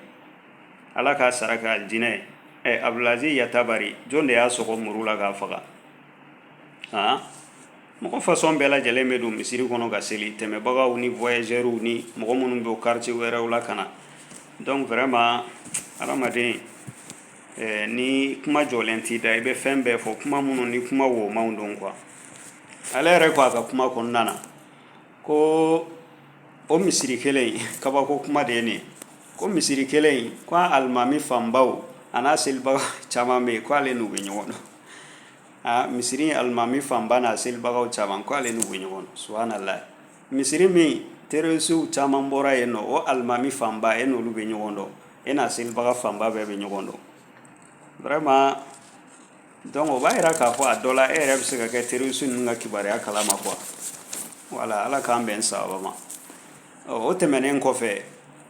ala k'a sara kɛ alijinɛ ye abdulaziz yatabari jɔn de y'a sɔgɔ muru la k'a faga han mɔgɔ façon bɛɛ lajɛlen bɛ don misiri kɔnɔ ka seli tɛmɛbagaw ni voyageurs ni mɔgɔ minnu bɛ quartier wɛrɛw la ka na donc vraiment hadamaden eh, ni kuma jɔlen t'i da i bɛ fɛn bɛɛ fɔ kuma minnu ni kuma womanw don quoi ale yɛrɛ ko a ka kuma kɔnɔna na ko o misiri kelen in kabako kuma de ye nin ye ko misiri kelen in ko a alimami fanbaw an'a selibaga caman bɛ yen ko ale n'u bɛ ɲɔgɔn dɔn aa misiri alimami fanba n'a selibagaw caman ko ale n'u bɛ ɲɔgɔn dɔn subahanallahi misiri min terroristew caman bɔra yen nɔ o alimami fanba e n'olu bɛ ɲɔgɔn dɔn e n'a selibaga fanba bɛɛ bɛ ɲɔgɔn dɔn vraiment donc o b'a yira k'a fɔ a dɔ la e yɛrɛ bɛ se ka kɛ terroriste ninnu ka kibaruya kalama quoi voilà ala k'an bɛn sababa ma ɔ o tɛmɛnen kɔfɛ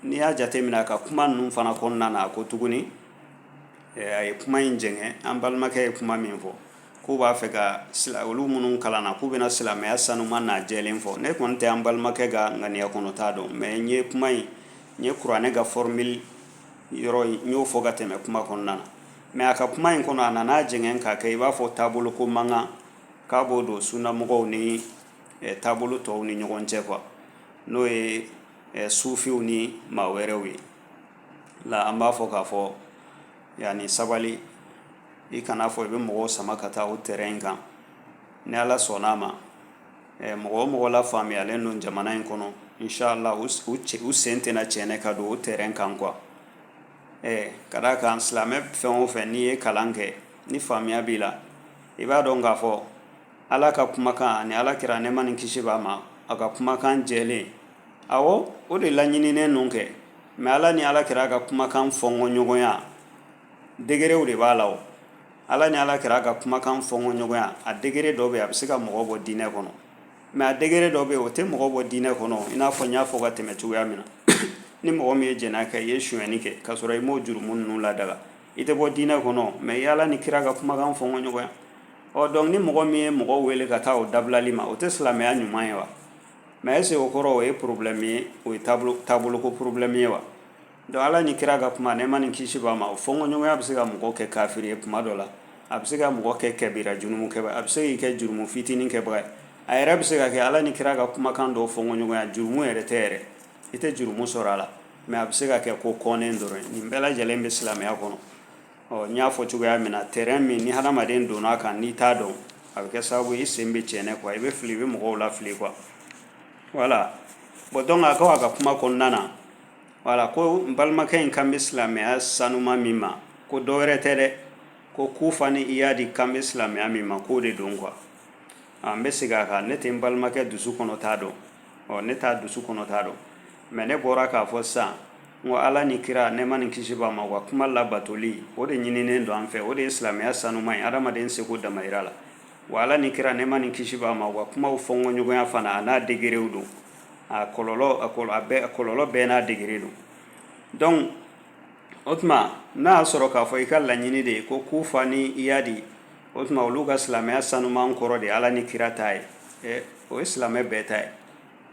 n'i y'a jateminɛ a ka kuma ninnu fana kɔnɔna na a ko tuguni A ye kuma in jɛngɛ an balimakɛ ye kuma min fɔ k'u b'a fɛ ka olu minnu kalanna k'u bɛna silamɛya sanuman n'a jɛlen fɔ ne kɔni tɛ an balimakɛ ka ŋaniya kɔnɔ ta dɔn mais n ye kuma in n ye kuranɛ ka f mi yɔrɔ n y'o fɔ ka tɛmɛ kuma kɔnɔna na mais a ka kuma in kɔnɔ a nana n'a jɛngɛ k'a kɛ i b'a fɔ taabolo ko mankan k'a b'o don sunnamɔgɔw ni taabolo tɔw ni ɲɔgɔn cɛ quoi n'o ye sufiw ni maa wɛrɛw ye la an b'a fɔ k'a fɔ yanni sabali i kana fɔ i bɛ mɔgɔw sama ka taa o terrain in kan ni ala sɔnn'a ma eh, mɔgɔ o mɔgɔ lafaamuyalen don jamana in kɔnɔ inshallah u s- u cɛ- u sen tɛna cɛɛnɛ ka don o terrain kan quoi eh, ka d'a kan silamɛ fɛn o fɛn n'i ye kalan kɛ ni faamuya b'i la i b'a dɔn k'a fɔ ala ka kumakan ani ala kira nɛɛma ni kisi b'a ma a ka kumakan jɛlen awɔ o de laɲininen don kɛ mais ala ni ala kira ka kumakan fɔnkɔɲɔgɔnya degréw de b'a la o ala ni ala kira ka kumakan fɔnkɔɲɔgɔnya a degré dɔ bɛ yen a bɛ se ka mɔgɔ bɔ diinɛ kɔnɔ mais a degré dɔ bɛ yen o tɛ mɔgɔ bɔ diinɛ kɔnɔ i n'a fɔ n y'a fɔ ka tɛmɛ cogoya min na ni mɔgɔ min ye jɛnɛya kɛ i ye sonyɛni kɛ k'a sɔrɔ i m'o jurumu ninnu ladaga i tɛ bɔ diinɛ kɔnɔ mais ala ni kira ka kumakan fɔnkɔɲɔgɔnya don donc ni mɔgɔ min ye mɔgɔ wele ka taa o dabilali ma o tɛ silamɛya ɲuman ye wa mais est-ce que o kɔrɔ o ye problème ye o ye taabolo ko problème ye wa donc ala ni kira ka kuma nɛɛma ni kisi b'a ma o fɔɲɔgɔnya bɛ se ka mɔgɔ kɛ kafiri ye kuma dɔ la a bɛ se ka mɔgɔ kɛ kɛbira jurumu kɛba a bɛ se k'i kɛ jurumu fitinin kɛbaga ye a yɛrɛ bɛ se ka kɛ ala ni kira ka kumakan dɔw fɔɲɔgɔnya jurumu yɛrɛ tɛ yɛrɛ i tɛ jurumu sɔrɔ a la mais a bɛ se ka kɛ ko kɔnnen dɔrɔn nin bɛɛ lajɛlen bɛ silamɛya kɔnɔ ɔ n y'a fɔ cogoya min na terrain min ni hadamaden donn'a kan n'i t'a dɔn a bɛ kɛ sababu i sen bɛ cɛɛnɛ quoi i bɛ fili i bɛ mɔgɔw lafili quoi voilà bon donc a ko a ka kuma kɔnɔna na voilà ko n balimakɛ in kan bɛ silamɛya sanuma min ma ko dɔ wɛrɛ tɛ dɛ ko kufa ni iyadi kan bɛ silamɛya min ma k'o de don quoi an bɛ segin a kan ne tɛ n balimakɛ dusu kɔnɔ ta dɔn ɔ ne t'a dusu kɔnɔ ta dɔn mais ne bɔra k'a fɔ sisan Wa ala ni kira nɛɛma ni kisi b'a ma u ka kuma labatoli o de ɲininen don an fɛ o de ye silamɛya sanuma ye hadamaden seko damayira la wa ala ni kira nɛɛma ni kisi b'a ma u ka kuma fɔɲɔgɔnya fana a n'a degréw don a kɔlɔ a kɔlɔlɔ bɛɛ n'a degré don donc o tuma n'a y'a sɔrɔ k'a fɔ i ka laɲini de ye ko kufa ni iyadi o tuma olu ka silamɛya sanuma kɔrɔ de ala ni kira ta ye o ye silamɛ bɛɛ ta ye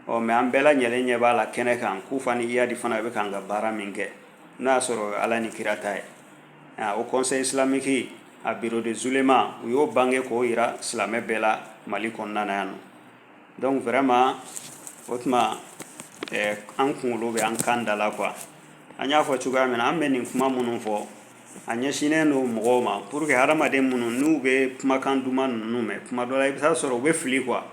ɔ mais an bɛɛ lajɛlen ɲɛ b'a la kɛnɛ kan kufa ni iyadi fana bɛ kan ka baara min kɛ n'a y'a sɔrɔ ala ni kira ta ye o conseil islamique a bureau des oulémas u y'o bange k'o jira silamɛ bɛɛ la mali kɔnɔna na yan nɔ donc vraiment o tuma eh, an kunkolo bɛ an kan da la quoi an y'a fɔ cogoya min na an bɛ nin kuma minnu fɔ a ɲɛsinnen don mɔgɔw ma pour que hadamaden minnu n'u bɛ kumakan duman ninnu mɛn kuma dɔ la i bɛ taa sɔrɔ u bɛ fili quoi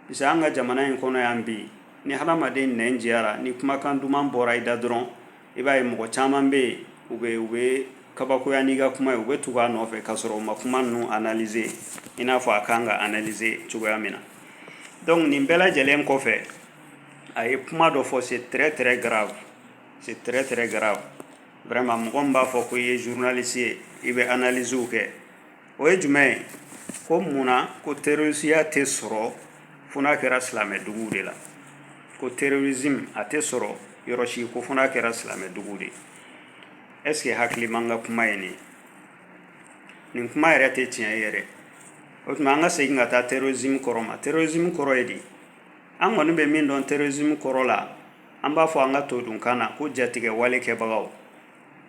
parce que an ka jamana in kɔnɔ yan bi ni hadamaden nɛn diyara ni kumakan duman bɔra i da dɔrɔn i b'a ye mɔgɔ caman bɛ yen u bɛ u bɛ kabakoya n'i ka kuma ye u bɛ tugu a nɔfɛ k'a sɔrɔ u ma kuma ninnu analyser i n'a fɔ a kan ka analyser cogoya min na donc nin bɛɛ lajɛlen kɔfɛ a ye kuma dɔ fɔ c'est très très grave c'est très très grave vraiment mɔgɔ min b'a fɔ ko i ye journaliste ye i bɛ analysew kɛ o ye jumɛn ye ko mun na ko terrorisiya tɛ sɔrɔ fo n'a kɛra silamɛdugu de la ko terrorisme a tɛ sɔrɔ yɔrɔ si ko fo n'a kɛra silamɛdugu de est-ce que hakiliman ka kuma ye nin nin kuma yɛrɛ tɛ tiɲɛ yɛrɛ o tuma an ka segin ka taa terrorisme kɔrɔ ma terrorisme kɔrɔ ye di an kɔni bɛ min dɔn terrorisme kɔrɔ la an b'a fɔ an ka todunkan na ko jatigɛwale kɛbagaw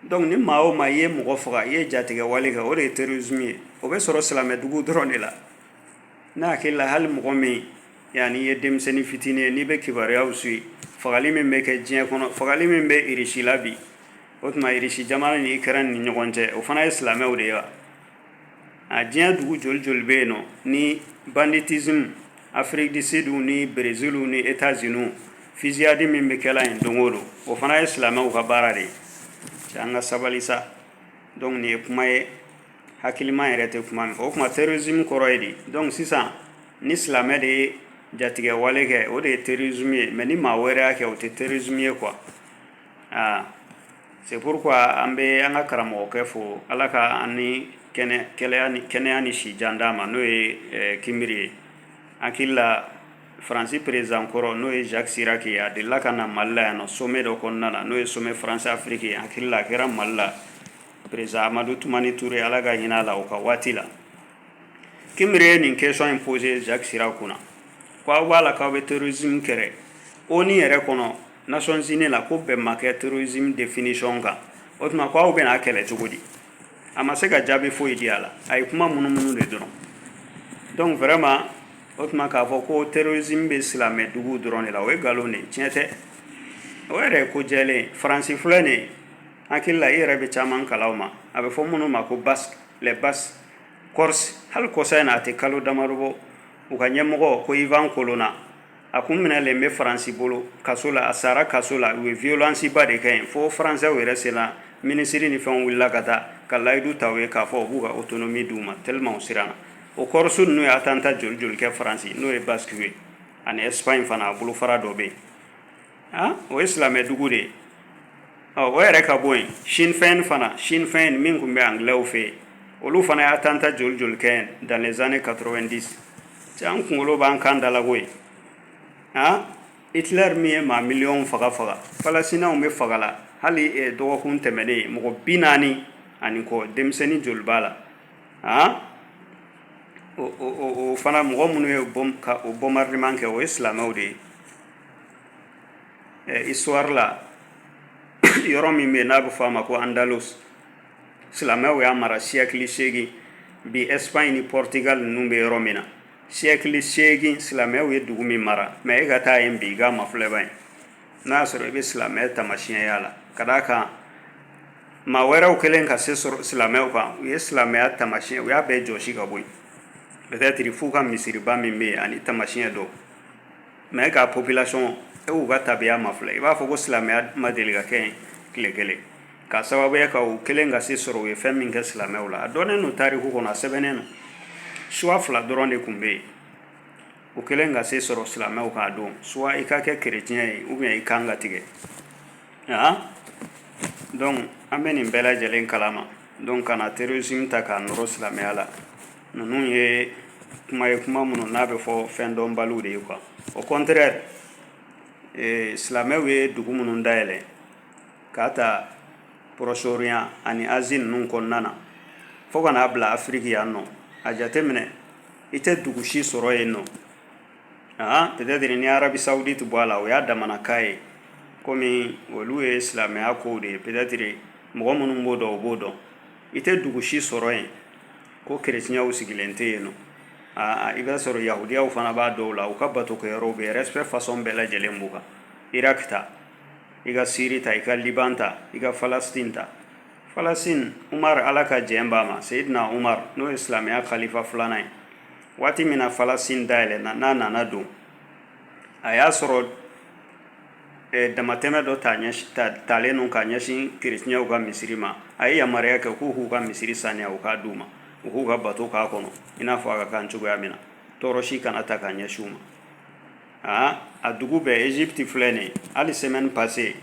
Donc ni maa o maa i ye mɔgɔ faga i ye jatigɛwale kɛ o de ye terrorisme ye o bɛ sɔrɔ silamɛdugu dɔrɔn de la ne hakili la hali mɔgɔ min yan n'i ye denmisɛnnin fitinin ye n'i bɛ kibaruyaw suivre fagali min bɛ kɛ diɲɛ kɔnɔ fagali min bɛ irisi la bi o tuma irisi jamana ni Ukraine ni ɲɔgɔn cɛ o fana ye silamɛw de ye wa a diɲɛ dugu joli joli bɛ yen nɔ ni banditisme Afrique du Sud ni Brésil ni États-Unis fusillade min bɛ kɛla yen don o don o fana ye silamɛw ka baara de ye cɛ an ka sabali sa donc nin ye kuma ye hakiliman yɛrɛ tɛ kuma min fɔ o tuma terrorisme kɔrɔ ye di donc sisan ni silamɛ de ye jatigɛwale kɛ o de ye terrorisme ye mais ni maa wɛrɛ y'a kɛ o tɛ terrorisme ye quoi aa c'est pourquoi an bɛ an ka karamɔgɔkɛ fo ala ka an ni kɛnɛya ni si jan d'a ma n'o ye eh, kinbiri ye hakili la faransi perezan kɔrɔ n'o ye jacques chirac ye a delila ka na mali la yan nɔ sommet dɔ kɔnɔna na n'o ye sommet faransi afiriki ye hakili la a kɛra mali la perezan amadu tumani ture ala ka hinɛ a la o ka waati la kinbiri ye nin question in poser jacques chirac kunna ko aw b'a la k'aw bɛ terrorisme kɛlɛ ONU yɛrɛ kɔnɔ Nations-Unies la ko bɛn ma kɛ terrorisme définition kan o tuma ko aw bɛna a kɛlɛ cogo di a ma se ka jaabi foyi di a la a ye kuma munumunu de dɔrɔn donc vraiment o tuma k'a fɔ ko terrorisme bɛ silamɛ duguw dɔrɔn de la o ye nkalon de ye tiɲɛ tɛ o yɛrɛ ye ko jɛlen ye faransi filɛ nin ye hakili la i yɛrɛ bɛ caman kalan o ma a bɛ fɔ minnu ma ko basques les basques corse hali kɔsa in na a tɛ kalo damadɔ bɔ u ka ɲɛmɔgɔ ko Yvan Colonna a kun minɛlen bɛ faransi bolo kaso la a sara kaso la u ye violence ba de kɛ yen fo faransɛw yɛrɛ sera minisiri ni fɛnw wulila ka taa ka layidu ta u ye k'a fɔ u b'u ka autonomie di u ma tellement u siranna o Corse ninnu ye attentat joli joli kɛ faransi n'o ye basquew ye ani Espagne fana a bolo fara dɔ bɛ yen o ye silamɛdugu de ye o yɛrɛ ka bɔ yen Sinn Féin fana Sinn Féin min tun bɛ anglaisw fɛ yen olu fana ye attentat joli joli kɛ dans les années quatre-vingt-dix cɛ an kunkolo b'an kan da la koyi Hitler min ye maa miliyɔn faga faga falasitinaw bɛ faga la hali dɔgɔkun tɛmɛnen ye mɔgɔ bi naani ani kɔ denmisɛnnin joli b'a la a o fana mɔgɔ minnu ye o bombardement kɛ o ye silamɛw de ye histoire la yɔrɔ min bɛ n'a bɛ fɔ a ma ko Andalus silamɛw y'a mara siyɛkili segin bi Espagne ni Portugal ninnu bɛ yɔrɔ min na siyɛkili segin silamɛw ye dugu min mara mais e ka taa yen bi i ka mafilɛba ye n'a y'a sɔrɔ i bɛ silamɛ tamasiyɛn y'a la ka d'a kan maa wɛrɛw kɛlen ka se sɔrɔ silamɛw kan u ye silamɛya tamasiyɛn u y'a bɛɛ jɔsi ka bɔ yen peut-être f'u ka misiriba min bɛ yen ani tamasiyɛn dɔw mais ka population e y'u ka tabiya mafilɛ i b'a fɔ ko silamɛya ma deli ka kɛ tile kelen ka sababuya ka u kɛlen ka se sɔrɔ u ye fɛn min kɛ silamɛw la a dɔnnen don tariku kɔnɔ a sɛbɛnnen don choix fila dɔrɔn de tun bɛ yen u kɛlen ka se sɔrɔ silamɛw kan don soit i ka kɛ kereciyɛn ye ou bien i kan ka tigɛ donc an bɛ nin bɛɛ lajɛlen kalama donc kana terrorisme ta k'a nɔrɔ silamɛya la ninnu ye kuma ye kuma minnu n'a bɛ fɔ fɛn dɔnbaliw de ye quoi au contraire silamɛw ye dugu minnu dayɛlɛn k'a ta Proche-Orient ani Asie ninnu kɔnɔna na fo ka n'a bila afiriki yan nɔ a jate minɛ i tɛ dugu si sɔrɔ yen nɔ aa peut-être ni Arabie Saoudite bɔ a la o y'a damana ka ye kɔmi olu ye silamɛya kow de ye peut-être mɔgɔ minnu b'o dɔn o b'o dɔn i tɛ dugu si sɔrɔ yen ko kerecɛnw sigilen tɛ yen nɔ aa i b'a sɔrɔ yahudiyaw fana b'a dɔw la u ka batokɛyɔrɔw bɛ respect façon bɛɛ lajɛlen b'u kan iraki ta i ka siri ta i ka liban ta i ka falastin ta falastin umar ala ka jɛn b'a ma seyidina umar n'o ye silamɛya kalifa filanan ye waati min na falastin dayɛlɛnna n'a nana don a y'a sɔrɔ damatɛmɛ dɔ talen don ka ɲɛsin kerecɛnw ka misiri ma a ye yamaruya kɛ k'u k'u ka misiri saniya u k'a d'u ma u k'u ka bato k'a kɔnɔ i n'a fɔ a ka kan cogoya min na tɔɔrɔ si kana ta ka ɲɛsin u ma aa a dugu bɛɛ Égypte filɛ nin hali semaine passée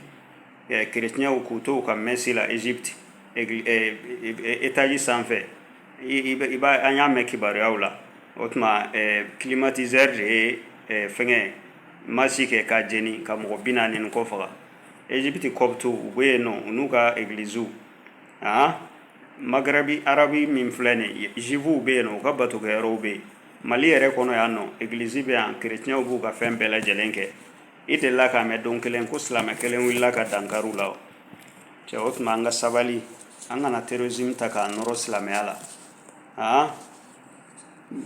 kerecɛnw k'u to u ka mɛsi la Égypte étage sanfɛ i an y'a mɛn kibaruyaw la o tuma climatiseur de ye fɛnkɛ ma si kɛ k'a jeni ka mɔgɔ bi naani ni kɔ faga egypte copte u bɛ yen nɔ u n'u ka egiliziw aa magarabi arabi min filɛ nin ye zifuw bɛ yen nɔ u ka batokɛyɔrɔw bɛ yen mali yɛrɛ kɔnɔ yan nɔ egilizi bɛ yan kerecɛnw b'u ka fɛn bɛɛ lajɛlen kɛ i delila k'a mɛn don kelen ko silamɛ kelen wulila ka dankari u la wa cɛ o tuma an ka sabali an kana terrorisme ta k'a nɔrɔ silamɛya la aa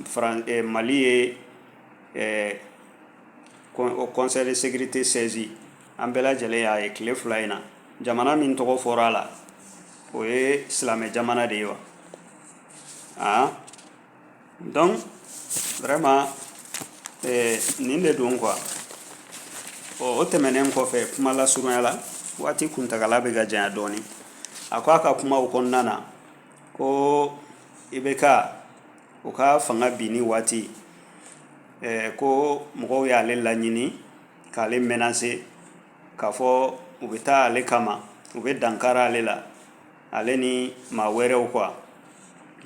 faran eh, mali ye ɛɛ o conseil de sécurité saisir an bɛɛ lajɛlen y'a ye tile fila in na jamana min tɔgɔ fɔra a la o ye silamɛ jamana de ye wa aa donc vraiment eh, nin de don quoi ɔ o tɛmɛnen kɔfɛ kuma lasurunya la waati kuntagala bɛ ka janya dɔɔnin a ko a ka kumaw kɔnɔna na ko ibk o ka fanga binni waati ko mɔgɔw y'ale laɲini k'ale menacer k'a fɔ u bɛ taa ale kama u bɛ dankari ale la ale ni maa wɛrɛw quoi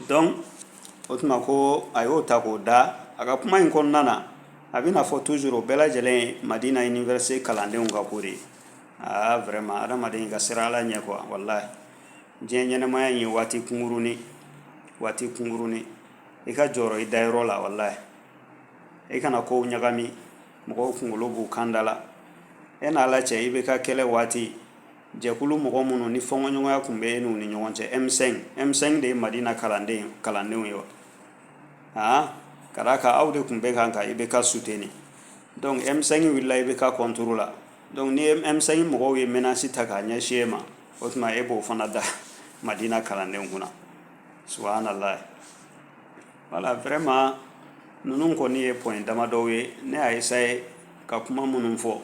donc o tuma ko a y'o ta k'o da a ka kuma in kɔnɔna na a bɛna fɔ toujours o bɛɛ lajɛlen ye madina université kalandenw ka ko de aa vraiment adamaden ka siran ala ɲɛ quoi walayi diɲɛ ɲɛnamaya in ye waati kunkuruni waati kunkuruni i ka jɔrɔ i dayɔrɔ la walayi i kana kow ɲagami mɔgɔw kunkolo b'u kan da la e n'ala cɛ ibk kɛlɛ waati jɛkulu mɔgɔ minnu ni fɔnkɔɲɔgɔnya tun bɛ e n'u ni ɲɔgɔn cɛ m5 m5 de ye madina kalanden kalandenw ye wa aa ka d'a kan aw de tun bɛ kan ka ibk soutenir donc m5 wulila ibk contre la donc ni m5 mɔgɔw ye menace ta k'a ɲɛsin e ma o tuma e b'o fana da madina kalandenw kunna subhanallah voilà vraiment ninnu kɔni ye point damadɔw ye ne y'a essayer ka kuma minnu fɔ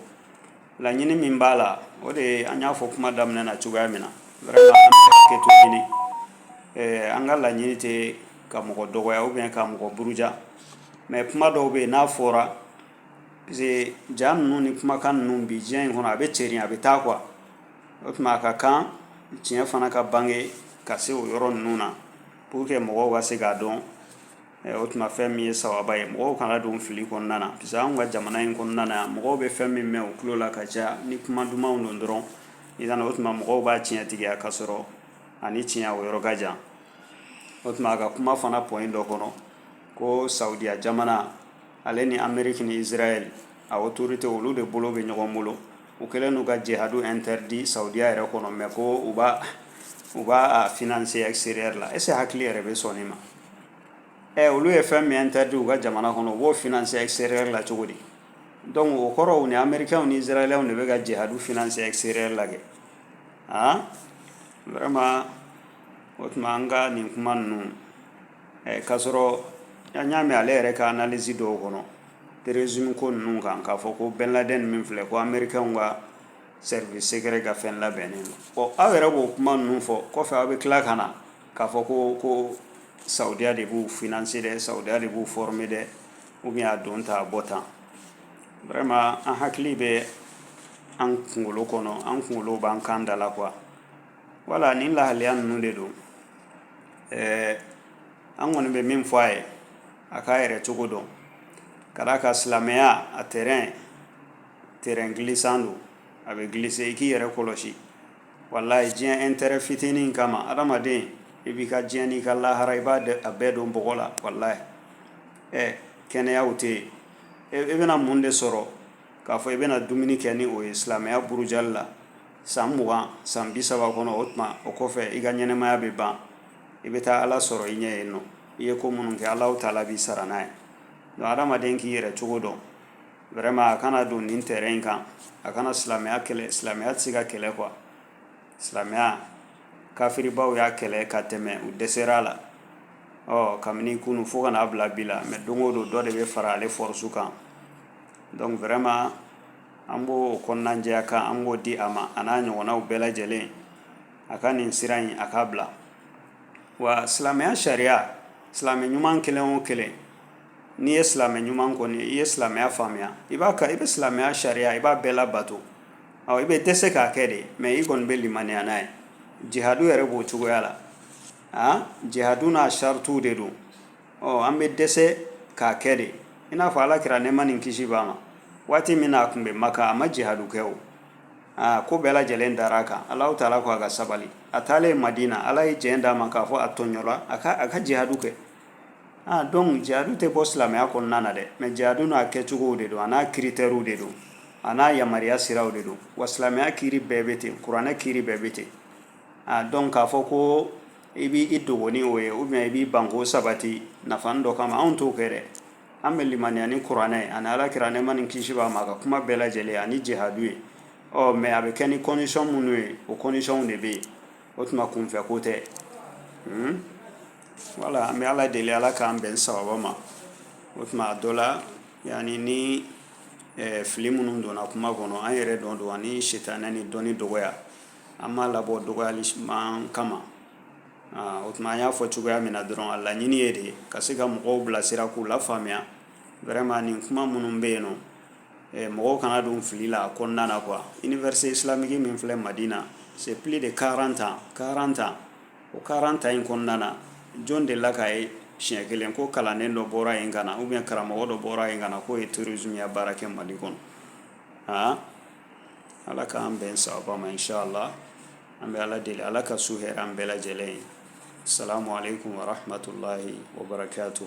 laɲini min b'a la o de ye an y'a fɔ kuma daminɛ na cogoya min na vraiment an bɛ hakɛto ɲini eh, an ka laɲini tɛ ka mɔgɔ dɔgɔya ou bien ka mɔgɔ buruja mais kuma dɔw bɛ yen n'a fɔra parce que ja ninnu ni kumakan ninnu bi diɲɛ in kɔnɔ a bɛ cɛrin a bɛ taa quoi o tuma a ka kan tiɲɛ fana ka bange ka se o yɔrɔ ninnu na pour que mɔgɔw ka se k'a dɔn eh, o tuma fɛn min ye sababa ye mɔgɔw kana don fili kɔnɔna na parce que anw ka jamana in kɔnɔna na yan mɔgɔw bɛ fɛn min mɛn u tulo la ka caya ni kuma dumanw don dɔrɔn i kana o tuma mɔgɔw b'a tiɲɛtigiya ka sɔrɔ a ni tiɲɛ o yɔrɔ ka jan o tuma a ka kuma fana point dɔ kɔnɔ ko saudiya jamana ale ni ameriki ni israɛl a autorité olu de bolo bɛ ɲɔgɔn bolo U kɛlen don ka jihadu interdit Saudiya yɛrɛ kɔnɔ mais ko u b'a u b'a a financer extérieur la est ce que hakili yɛrɛ bɛ sɔn nin ma ɛ olu ye fɛn min interdit u ka jamana kɔnɔ u b'o financer extérieur la cogo di donc o kɔrɔ u ni américains ni israéliens de bɛ ka jihadu financer extérieur la kɛ han vraiment o tuma an ka nin kuma ninnu ɛ k'a sɔrɔ an y'a mɛn ale yɛrɛ ka analyse dɔw kɔnɔ terrorisme ko ninnu kan k'a fɔ ko bin laden min filɛ ko américains ka service secret ka fɛn labɛnnen don bon aw yɛrɛ b'o kuma ninnu fɔ kɔfɛ aw bɛ tila ka na k'a fɔ ko ko saudiya de b'u financer dɛ saudiya de b'u former dɛ ou bien a don tan a bɔ tan vraiment an hakili bɛ an kunkolo kɔnɔ an kunkolo b'an kan da la quoi voilà nin lahaliya ninnu de don ɛɛ an kɔni bɛ min fɔ a ye a k'a yɛrɛ cogo dɔn ka d'a kan silamɛya a terrain terrain glissant don a bɛ glisser i k'i yɛrɛ kɔlɔsi walayi diɲɛ intérêt fitinin in kama adamaden i b'i ka diɲɛ n'i ka lahara i b'a dɛ- a bɛɛ don bɔgɔ la walayi ɛ kɛnɛyaw tɛ yen e e bɛna mun de sɔrɔ k'a fɔ i bɛna dumuni kɛ ni o ye silamɛya burujali la san mugan san bi saba kɔnɔ o tuma o kɔfɛ i ka ɲɛnamaya bɛ ban i bɛ taa ala sɔrɔ i ɲɛ yen ɔ i ye ko minnu kɛ ala taala b'i sara n'a ye donc adamaden k'i yɛrɛ cogo dɔn vraiment a kana don nin terrain kan a kana silamɛya kɛlɛ silamɛya tɛ se ka kɛlɛ quoi silamɛya kafiribaw y'a kɛlɛ ka tɛmɛ u dɛsɛr'a la ɔ kabini kunun fo ka n'a bila bi la mais don o don dɔ de bɛ fara ale force kan donc vraiment an b'o kɔnɔnajɛya kan an b'o di a ma a n'a ɲɔgɔnnaw bɛɛ lajɛlen a ka nin sira in a k'a bila wa silamɛya sariya silamɛ ɲuman kelen o kelen n'i ye silamɛ ɲuman kɔni i ye silamɛya faamuya i b'a ka i bɛ silamɛya sariya i b'a bɛɛ labato awɔ i bɛ dɛsɛ k'a kɛ de mais i kɔni bɛ limaniya n'a ye jihadu yɛrɛ b'o cogoya la a jihadu n'a saratiw de don ɔ an bɛ dɛsɛ k'a kɛ de i n'a fɔ ala kira nɛɛma ni kisi b'a ma waati min na a tun bɛ maka a ma jihadu kɛ o aa ko bɛɛ lajɛlen dara a kan alahu taala ko a ka sabali a taalen madina ala ye jɛn d'a ma k'a fɔ a tɔɲɔla a ka a ka jihadu kɛ ah donc jihadu tɛ bɔ silamɛya kɔnɔna na dɛ mais jihadu n'a kɛcogow de don a n'a critères de don a n'a yamaruya siraw de don wa silamɛya kiri bɛɛ bɛ ten kuranɛ kiri bɛɛ bɛ ten ah donc k'a fɔ ko i b'i dogo ni o ye ou bien i b'i ban k'o sabati nafanin dɔ kama anw t'o kɛ dɛ An bɛ limaniya ni kuranɛ ye ani Ala kira nɛɛma ni kisi b'a ma a ka kuma bɛɛ lajɛlen ani jihadu ye ɔ mais a bɛ kɛ ni condition minnu ye o conditions de bɛ yen o tuma kunfɛ ko tɛ voilà an bɛ Ala deli Ala k'an bɛn sababa ma o tuma a dɔ la yani ni fili minnu donna kuma kɔnɔ an yɛrɛ nɔ don ani sitanɛ ni dɔnni dɔgɔya an m'a labɔ dɔgɔyali kama o tuma an y'a fɔ cogoya min na dɔrɔn a laɲini ye de ye ka se ka mɔgɔw bilasira k'u lafaamuya vraiment nin kuma minnu bɛ yen nɔ eh, mɔgɔw kana don fili la a kɔnɔna na quoi université islamique min filɛ madina c'est plus de 40 ans 40 ans o 40 ans in kɔnɔna na jɔn delila k'a ye siɲɛ kelen ko kalanden dɔ bɔra yen ka na ou bien karamɔgɔ dɔ bɔra yen ka na k'o ye terrorisme ya baara kɛ mali kɔnɔ aa ala k'an bɛn sababa ma inchallah an bɛ ala deli ala ka su hɛrɛ an bɛɛ lajɛlen ye sa mare tun warafinmatɔla ye o bara to